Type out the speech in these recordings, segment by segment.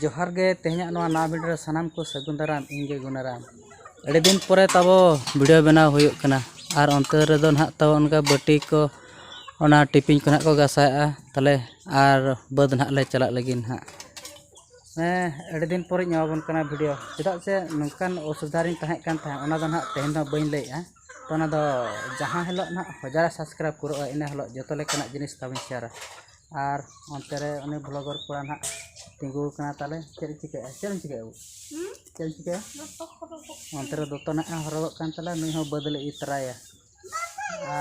ᱡᱚᱦᱟᱨ ᱜᱮ ᱛᱮᱦᱮᱧᱟᱜ ᱱᱚᱣᱟ ᱱᱟᱣᱟ ᱵᱷᱤᱰᱤᱭᱳ ᱨᱮ ᱥᱟᱱᱟᱢ ᱠᱚ ᱥᱟᱹᱜᱩᱱ ᱫᱟᱨᱟᱢ ᱤᱧ ᱜᱮ ᱜᱩᱱᱟᱨᱟᱢ ᱟᱹᱰᱤ ᱫᱤᱱ ᱯᱚᱨᱮ ᱛᱟᱵᱚ ᱵᱷᱤᱰᱤᱭᱳ ᱵᱮᱱᱟᱣ ᱦᱩᱭᱩᱜ ᱠᱟᱱᱟ ᱟᱨ ᱚᱱᱛᱮ ᱨᱮᱫᱚ ᱱᱟᱦᱟᱜ ᱛᱟᱵᱚ ᱚᱱᱠᱟ ᱵᱟᱹᱴᱤ ᱠᱚ ᱚᱱᱟ ᱴᱤᱯᱤᱱ ᱠᱚ ᱱᱟᱦᱟᱜ ᱠᱚ ᱜᱟᱥᱟᱣᱮᱜᱼᱟ ᱛᱟᱦᱚᱞᱮ ᱟᱨ ᱵᱟᱹᱫᱽ ᱱᱟᱦᱟᱜ ᱞᱮ ᱪᱟᱞᱟᱜ ᱞᱟᱹᱜᱤᱫ ᱱᱟᱦᱟᱜ ᱦᱮᱸ ᱟᱹᱰᱤ ᱫᱤᱱ ᱯᱚᱨᱮᱧ ᱮᱢᱟᱵᱚᱱ ᱠᱟᱱᱟ ᱵᱷᱤᱰᱤᱭᱳ ᱪᱮᱫᱟᱜ ᱥᱮ ᱱᱚᱝᱠᱟᱱ ᱚᱥᱩᱵᱤᱫᱷᱟ ᱨᱤᱧ ᱛᱟᱦᱮᱸ ᱠᱟᱱ ᱛᱟᱦᱮᱸᱫ ᱚᱱᱟ ᱫᱚ ᱱᱟᱦᱟᱜ ᱛᱮᱦᱮᱧ ᱫᱚ ᱵᱟᱹᱧ ᱞᱟᱹᱭᱮᱜᱼᱟ ᱛᱚ ᱚᱱᱟ ᱫᱚ ᱡᱟᱦᱟᱸ ᱦᱤᱞᱳᱜ ᱱᱟᱦᱟᱜ ᱦᱟᱡᱟᱨ ᱥᱟᱵᱥᱠᱨᱟᱭᱤᱵᱽ ᱯᱩᱨᱟᱹᱜᱼᱟ ᱤᱱᱟᱹ ᱦᱤᱞᱳᱜ ᱡᱚᱛᱚ ᱞᱮᱠᱟᱱᱟᱜ ᱡᱤᱱᱤᱥ ᱛᱟᱵᱚᱱ ᱥᱮᱭᱟᱨᱟ ᱟᱨ ᱚᱱᱛᱮ ᱨᱮ ᱩᱱᱤ ᱵᱷᱞᱚᱜᱚᱨ ᱠᱚᱲᱟ ᱦᱟᱸᱜ ᱛᱤᱸᱜᱩ ᱟᱠᱟᱱᱟ ᱛᱟᱞᱮ ᱪᱮᱫ ᱮ ᱪᱤᱠᱟᱹᱭᱮᱫᱼᱟ ᱪᱮᱫ ᱮᱢ ᱪᱤᱠᱟᱹᱭᱮᱫᱼᱟ ᱵᱟᱹᱵᱩ ᱪᱮᱫ ᱮᱢ ᱪᱤᱠᱟᱹᱭᱟ ᱚᱱᱛᱮ ᱨᱮ ᱫᱚᱛᱚ ᱦᱟᱸᱜ ᱮ ᱦᱚᱨᱚᱜᱚᱜ ᱠᱟᱱ ᱛᱟᱞᱮᱭᱟ ᱱᱩᱭ ᱦᱚᱸ ᱵᱟᱹᱫᱽ ᱞᱮ ᱤᱫᱤ ᱛᱟᱨᱟᱭᱮᱭᱟ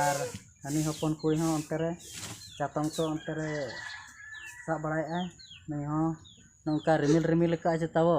ᱟᱨ ᱦᱟᱹᱱᱤ ᱦᱚᱯᱚᱱ ᱠᱩᱲᱤ ᱦᱚᱸ ᱚᱱᱛᱮ ᱨᱮ ᱪᱟᱛᱚᱢ ᱠᱚ ᱚᱱᱛᱮ ᱨᱮ ᱥᱟᱵ ᱵᱟᱲᱟᱭᱮᱫᱼᱟᱭ ᱱᱩᱭ ᱦᱚᱸ ᱱᱚᱝᱠᱟ ᱨᱤᱢᱤᱞ ᱨᱤᱢᱤᱞ ᱟᱠᱟᱫᱼᱟᱭ ᱪᱮᱛᱟ ᱵᱚ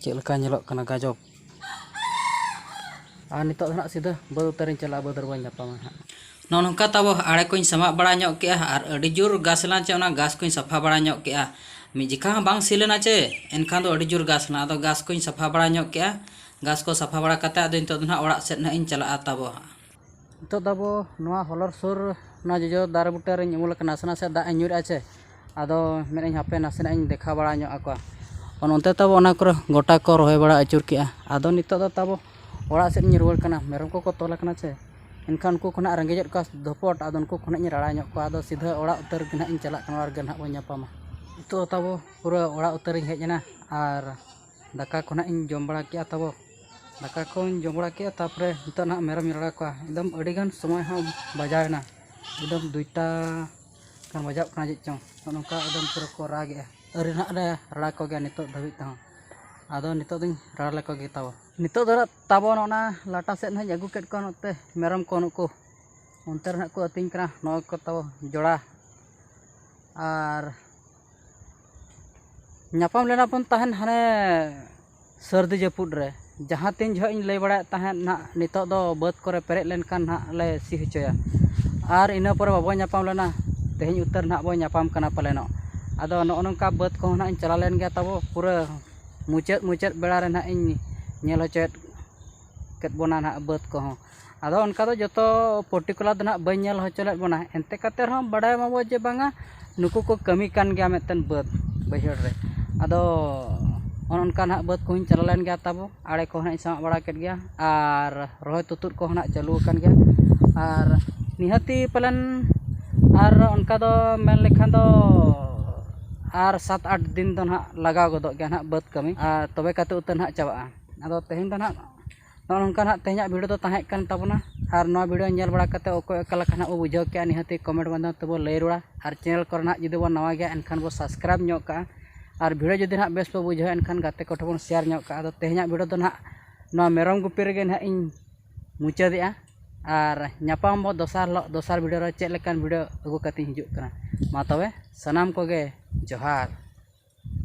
ᱪᱮᱫ ᱞᱮᱠᱟ ᱧᱮᱞᱚᱜ ᱠᱟᱱᱟ ᱜᱟᱡᱚᱵᱽ ᱟᱨ ᱱᱤᱛᱚᱜ ᱫᱚ ᱦᱟᱸᱜ ᱥᱤᱫᱷᱟᱹ ᱵᱟᱹᱫᱽ ᱩᱛᱟᱹᱨᱤᱧ ᱪᱟᱞᱟᱜᱼᱟ ᱵᱟᱹᱫᱽ ᱨᱮ ᱵᱟᱹᱧ ᱧᱟᱯᱟᱢᱟ ᱦᱟᱸᱜ ᱱᱚᱜᱼᱚ ᱱᱚᱝᱠᱟ ᱛᱟᱵᱚ ᱟᱲᱮ ᱠᱚᱧ ᱥᱟᱢᱟᱜ ᱵᱟᱲᱟ ᱧᱚᱜ ᱠᱮᱜᱼᱟ ᱟᱨ ᱟᱹᱰᱤ ᱡᱳᱨ ᱜᱷᱟᱥ ᱞᱮᱱᱟ ᱪᱮ ᱚᱱᱟ ᱜᱷᱟᱥ ᱠᱚᱧ ᱥᱟᱯᱷᱟ ᱵᱟᱲᱟ ᱧᱚᱜ ᱠᱮᱜᱼᱟ ᱢᱤᱫ ᱡᱚᱠᱷᱟ ᱦᱚᱸ ᱵᱟᱝ ᱥᱤ ᱞᱮᱱᱟ ᱪᱮ ᱮᱱᱠᱷᱟᱱ ᱫᱚ ᱟᱹᱰᱤ ᱡᱳᱨ ᱜᱷᱟᱥ ᱞᱮᱱᱟ ᱟᱫᱚ ᱜᱷᱟᱥ ᱠᱚᱧ ᱥᱟᱯᱷᱟ ᱵᱟᱲᱟ ᱧᱚᱜ ᱠᱮᱜᱼᱟ ᱜᱷᱟᱥ ᱠᱚ ᱥᱟᱯᱷᱟ ᱵᱟᱲᱟ ᱠᱟᱛᱮᱫ ᱟᱫᱚ ᱱᱤᱛᱚᱜ ᱫᱚ ᱦᱟᱸᱜ ᱚᱲᱟᱜ ᱥᱮᱫ ᱦᱟᱸᱜ ᱤᱧ ᱪᱟᱞᱟᱜᱼᱟ ᱛᱟᱵᱚ ᱱᱤᱛᱚᱜ ᱫᱚ ᱟᱵᱚ ᱱᱚᱣᱟ ᱦᱚᱞᱚᱨ ᱥᱩᱨ ᱱᱚᱣᱟ ᱡᱚᱡᱚ ᱫᱟᱨᱮ ᱵᱩᱴᱟᱹ ᱨᱮᱧ ᱩᱢᱩᱞ ᱟᱠᱟᱱᱟ ᱱᱟᱥᱮ ᱱᱟᱥᱮ ᱫᱟᱜ ᱤᱧ ᱧᱩᱨᱮᱜᱼᱟ ᱥᱮ ᱟᱫᱚ ᱢᱮᱱᱮᱫ ᱟᱹᱧ ᱦᱟᱯᱮ ᱱᱟᱥᱮᱱᱟᱜ ᱤᱧ ᱫᱮᱠᱷᱟᱣ ᱵᱟᱲᱟ ᱧᱚᱜ ᱟᱠᱚᱣᱟ ᱚᱱ ᱚᱱᱛᱮ ᱛᱟᱵᱚ ᱚᱱᱟ ᱠᱚᱨᱮ ᱜᱚᱴᱟ ᱠᱚ ᱨᱚᱦᱚᱭ ᱵᱟᱲᱟ ᱟᱹᱪᱩᱨ ᱠᱮᱜᱼᱟ ᱟᱫᱚ ᱱᱤᱛᱚᱜ ᱫᱚ ᱛᱟᱵᱚ ᱚᱲᱟᱜ ᱥᱮᱫ ᱤᱧ ᱨᱩᱣᱟᱹᱲ ᱠᱟᱱᱟ ᱢᱮᱨᱚᱢ ᱠᱚᱠᱚ ᱛᱚᱞ ᱟᱠᱟᱱᱟ ᱥᱮ ᱮᱱᱠᱷᱟᱱ ᱩᱱᱠᱩ ᱠᱚ ᱦᱟᱸᱜ ᱨᱮᱸᱜᱮᱡᱮᱜ ᱠᱚᱣᱟ ᱫᱷᱩᱯᱚᱴ ᱟᱫᱚ ᱩᱱᱠᱩ ᱠᱚ ᱦᱟᱸᱜ ᱤᱧ ᱨᱟᱲᱟ ᱧᱚᱜ ᱠᱚᱣᱟ ᱟᱫᱚ ᱥᱤᱫᱷᱟᱹ ᱚᱲᱟᱜ ᱩᱛᱟᱹᱨ ᱜᱮ ᱦᱟᱸᱜ ᱤᱧ ᱪᱟᱞᱟᱜ ᱠᱟᱱᱟ ᱚᱲᱟᱜ ᱨᱮᱜᱮ ᱦᱟᱸᱜ ᱵᱚᱱ ᱧᱟᱯᱟᱢᱟ ᱱᱤᱛᱚᱜ ᱫᱚ ᱛᱟᱵᱚ ᱯᱩᱨᱟᱹ ᱚᱲᱟᱜ ᱩᱛᱟᱹᱨ ᱤᱧ ᱦᱮᱡ ᱮᱱᱟ ᱟᱨ ᱫᱟᱠᱟ ᱠᱚ ᱱᱟᱦᱟᱜ ᱤᱧ ᱡᱚᱢ ᱵᱟᱲᱟ ᱠᱮᱜᱼᱟ ᱛᱟᱵᱚ ᱫᱟᱠᱟ ᱠᱚᱧ ᱡᱚᱢ ᱵᱟᱲᱟ ᱠᱮᱜᱼᱟ ᱛᱟᱨᱯᱚᱨᱮ ᱱᱤᱛᱚᱜ ᱱᱟᱦᱟᱜ ᱢᱮᱨᱚᱢ ᱤᱧ ᱞᱟᱜᱟ ᱠᱚᱣᱟ ᱮᱠᱫᱚᱢ ᱟᱹᱰᱤ ᱜᱟᱱ ᱥᱚᱢᱚᱭ ᱦᱚᱸ ᱵᱟᱡᱟᱣ ᱮᱱᱟ ᱮᱠᱫᱚᱢ ᱫᱩᱭᱴᱟ ᱜᱟᱱ ᱵᱟᱡᱟᱜ ᱠᱟᱱᱟ ᱪᱮᱫ ᱪᱚᱝ ᱱᱚᱜᱼᱚᱸᱭ ᱱᱚᱝᱠᱟ ᱮᱠᱫᱚᱢ ᱯᱩᱨᱟᱹ ᱠᱚ ᱨᱟᱜᱽ ᱮᱜᱼᱟ ᱟᱹᱣᱨᱤ ᱱᱟᱦᱟᱜ ᱞᱮ ᱨᱟᱲᱟ ᱠᱚᱜᱮᱭᱟ ᱱᱤᱛᱚᱜ ᱫᱷᱟᱹᱵᱤᱡ ᱛᱮᱦᱚᱸ ᱟᱫᱚ ᱱᱤᱛᱚᱜ ᱫᱚᱧ ᱨᱟᱲᱟ ᱞᱮᱠᱚ ᱜᱮ ᱛᱟᱵᱚ ᱱᱤᱛᱚᱜ ᱫᱚ ᱱᱟᱦᱟᱜ ᱛᱟᱵᱚ ᱚᱱᱟ ᱞᱟᱴᱟ ᱥᱮᱫ ᱱᱟᱦᱟᱜ ᱤᱧ ᱟᱹᱜᱩ ᱠᱮᱜ ᱠᱚᱣᱟ ᱱᱚᱛᱮ ᱢᱮᱨᱚᱢ ᱠᱚ ᱱᱩᱠᱩ ᱚᱱᱛᱮ ᱨᱮ ᱱᱟᱦᱟᱜ ᱠᱚ ᱟᱹᱛᱤᱧ ᱠᱟᱱᱟ ᱱᱚᱜᱼᱚᱸᱭ ᱠᱚ ᱛᱟᱵᱚ ᱡᱚᱲᱟ ᱟᱨ ᱧᱟᱯᱟᱢ ᱞᱮᱱᱟ ᱵᱚᱱ ᱛᱟᱦᱮᱱ ᱦᱟᱱᱮ ᱥᱟᱹᱨᱫᱤ ᱡᱟᱹᱯᱩᱫ ᱨᱮ ᱡᱟᱦᱟᱸ ᱛᱤᱱ ᱡᱚᱦᱚᱜ ᱤᱧ ᱞᱟᱹᱭ ᱵᱟᱲᱟᱭᱮᱫ ᱛᱟᱦᱮᱸᱫ ᱱᱟᱜ ᱱᱤᱛᱚᱜ ᱫᱚ ᱵᱟᱹᱫᱽ ᱠᱚᱨᱮ ᱯᱮᱨᱮᱡ ᱞᱮᱱᱠᱷᱟᱱ ᱱᱟᱜ ᱞᱮ ᱥᱤ ᱦᱚᱪᱚᱭᱟ ᱟᱨ ᱤᱱᱟᱹ ᱯᱚᱨᱮ ᱵᱟᱵᱚᱱ ᱧᱟᱯᱟᱢ ᱞᱮᱱᱟ ᱛᱮᱦᱮᱧ ᱩᱛᱟᱹᱨ ᱱᱟᱜ ᱵᱚᱱ ᱧᱟᱯᱟᱢ ᱠᱟᱱᱟ ᱯᱟᱞᱮᱱᱚᱜ ᱟᱫᱚ ᱱᱚᱜᱼᱚ ᱱᱚᱝᱠᱟ ᱵᱟᱹᱫᱽ ᱠᱚᱦᱚᱸ ᱱᱟᱜ ᱤᱧ ᱪᱟᱞᱟᱣ ᱞᱮᱱ ᱜᱮᱭᱟ ᱛᱟᱵᱚ ᱯᱩᱨᱟᱹ ᱢᱩᱪᱟᱹᱫ ᱢᱩᱪᱟᱹᱫ ᱵᱮᱲᱟ ᱨᱮ ᱱᱟᱜ ᱤᱧ ᱧᱮᱞ ᱦᱚᱪᱚᱭᱮᱫ ᱠᱮᱫ ᱵᱚᱱᱟ ᱱᱟᱜ ᱵᱟᱹᱫᱽ ᱠᱚᱦᱚᱸ ᱟᱫᱚ ᱚᱱᱠᱟ ᱫᱚ ᱡᱚᱛᱚ ᱯᱟᱨᱴᱤᱠᱩᱞᱟᱨ ᱫᱚ ᱱᱟᱦᱟᱜ ᱵᱟᱹᱧ ᱧᱮᱞ ᱦᱚᱪᱚ ᱞᱮᱫ ᱵᱚᱱᱟ ᱮᱱᱛᱮ ᱠᱟᱛᱮ ᱨᱮᱦᱚᱸ ᱵᱟᱰᱟᱭ ᱢᱟᱵᱚ ᱡᱮ ᱵᱟᱝᱟ ᱱᱩᱠᱩ ᱠᱚ ᱠᱟᱹᱢᱤ ᱠᱟᱱ ᱜᱮᱭᱟ ᱢᱮᱱᱛᱮ ᱵᱟᱹᱫᱽ ᱵᱟᱹᱭᱦᱟᱹᱲ ᱨᱮ ᱟᱫᱚ ᱚᱱᱮ ᱚᱱᱠᱟ ᱱᱟᱦᱟᱜ ᱵᱟᱹᱫᱽ ᱠᱚᱦᱚᱧ ᱪᱟᱞᱟᱣ ᱞᱮᱱ ᱜᱮᱭᱟ ᱛᱟᱵᱚ ᱟᱲᱮ ᱠᱚᱦᱚᱸ ᱱᱟᱦᱟᱜ ᱤᱧ ᱥᱟᱢᱟᱜ ᱵᱟᱲᱟ ᱠᱮᱫ ᱜᱮᱭᱟ ᱟᱨ ᱨᱚᱦᱚᱭ ᱛᱩᱛᱩᱫ ᱠᱚᱦᱚᱸ ᱱᱟᱦᱟᱜ ᱪᱟᱹᱞᱩ ᱟᱠᱟᱱ ᱜᱮᱭᱟ ᱟᱨ ᱱᱤᱦᱟᱹᱛᱤ ᱯᱟᱞᱮᱱ ᱟᱨ ᱚᱱᱠᱟ ᱫᱚ ᱢᱮᱱ ᱞᱮᱠᱷᱟᱱ ᱫᱚ ᱟᱨ ᱥᱟᱛ ᱟᱴ ᱫᱤᱱ ᱫᱚ ᱱᱟᱦᱟᱜ ᱞᱟᱜᱟᱣ ᱜᱚᱫᱚᱜ ᱜᱮᱭᱟ ᱱᱟᱦᱟᱜ ᱵᱟᱹᱫᱽ ᱠᱟᱹᱢᱤ ᱟᱨ ᱛᱚᱵᱮ ᱠᱟᱛᱮ ᱩᱛᱟᱹᱨ ᱱᱟᱦᱟᱜ ᱪᱟᱵᱟᱜᱼᱟ ᱟᱫᱚ ᱛᱮᱦᱮᱧ ᱫᱚ ᱱᱟᱦᱟᱜ ᱱᱚᱜᱼᱚ ᱱᱚᱝᱠᱟ ᱱᱟᱜ ᱛᱮᱦᱮᱧᱟᱜ ᱵᱷᱤᱰᱤᱭᱳ ᱫᱚ ᱛᱟᱦᱮᱸ ᱠᱟᱱ ᱛᱟᱵᱚᱱᱟ ᱟᱨ ᱱᱚᱣᱟ ᱵᱷᱤᱰᱤᱭᱳ ᱧᱮᱞ ᱵᱟᱲᱟ ᱠᱟᱛᱮᱫ ᱚᱠᱚᱭ ᱚᱠᱟ ᱞᱮᱠᱟ ᱱᱟᱜ ᱵᱚᱱ ᱵᱩᱡᱷᱟᱹᱣ ᱠᱮᱜᱼᱟ ᱱᱤᱦᱟᱹᱛ ᱜᱮ ᱠᱚᱢᱮᱱᱴ ᱢᱟᱫᱽᱫᱷᱚᱢ ᱛᱮᱵᱚᱱ ᱞᱟᱹᱭ ᱨᱩᱣᱟᱹᱲᱟ ᱟᱨ ᱪᱮᱱᱮᱞ ᱠᱚᱨᱮ ᱱᱟᱜ ᱡᱩᱫᱤ ᱵᱚᱱ ᱱᱟᱣᱟ ᱜᱮᱭᱟ ᱮᱱᱠᱷᱟᱱ ᱵᱚᱱ ᱥᱟᱵᱥᱠᱨᱟᱭᱤᱵᱽ ᱧᱚᱜ ᱠᱟᱜᱼᱟ ᱟᱨ ᱵᱷᱤᱰᱤᱭᱳ ᱡᱩᱫᱤ ᱱᱟᱜ ᱵᱮᱥ ᱵᱚᱱ ᱵᱩᱡᱷᱟᱹᱣᱟ ᱮᱱᱠᱷᱟᱱ ᱜᱟᱛᱮ ᱠᱚᱴᱷᱮᱱ ᱵᱚᱱ ᱥᱮᱭᱟᱨ ᱧᱚᱜ ᱠᱟᱜᱼᱟ ᱟᱫᱚ ᱛᱮᱦᱮᱧᱟᱜ ᱵᱷᱤᱰᱤᱭᱳ ᱫᱚ ᱱᱟᱜ ᱱᱚᱣᱟ ᱢᱮᱨᱚᱢ ᱜᱩᱯᱤ ᱨᱮᱜᱮ ᱱᱟᱜ ᱤᱧ ᱢᱩᱪᱟᱹᱫᱮᱜᱼᱟ ᱟᱨ ᱧᱟᱯᱟᱢ ᱟᱵᱚᱱ ᱫᱚᱥᱟᱨ ᱦᱤᱞᱳᱜ ᱫᱚᱥᱟᱨ ᱵᱷᱤᱰᱤᱭᱳ ᱨᱮ ᱪᱮᱫ ᱞᱮᱠᱟᱱ ᱵᱷᱤᱰᱤᱭᱳ ᱟᱹᱜᱩ ᱠᱟᱛᱮᱫ ᱤᱧ ᱦᱤᱡᱩᱜ ᱠᱟᱱᱟ ᱢᱟ ᱛᱚᱵᱮ ᱥᱟᱱᱟᱢ ᱠᱚᱜᱮ ᱡᱚᱦᱟᱨ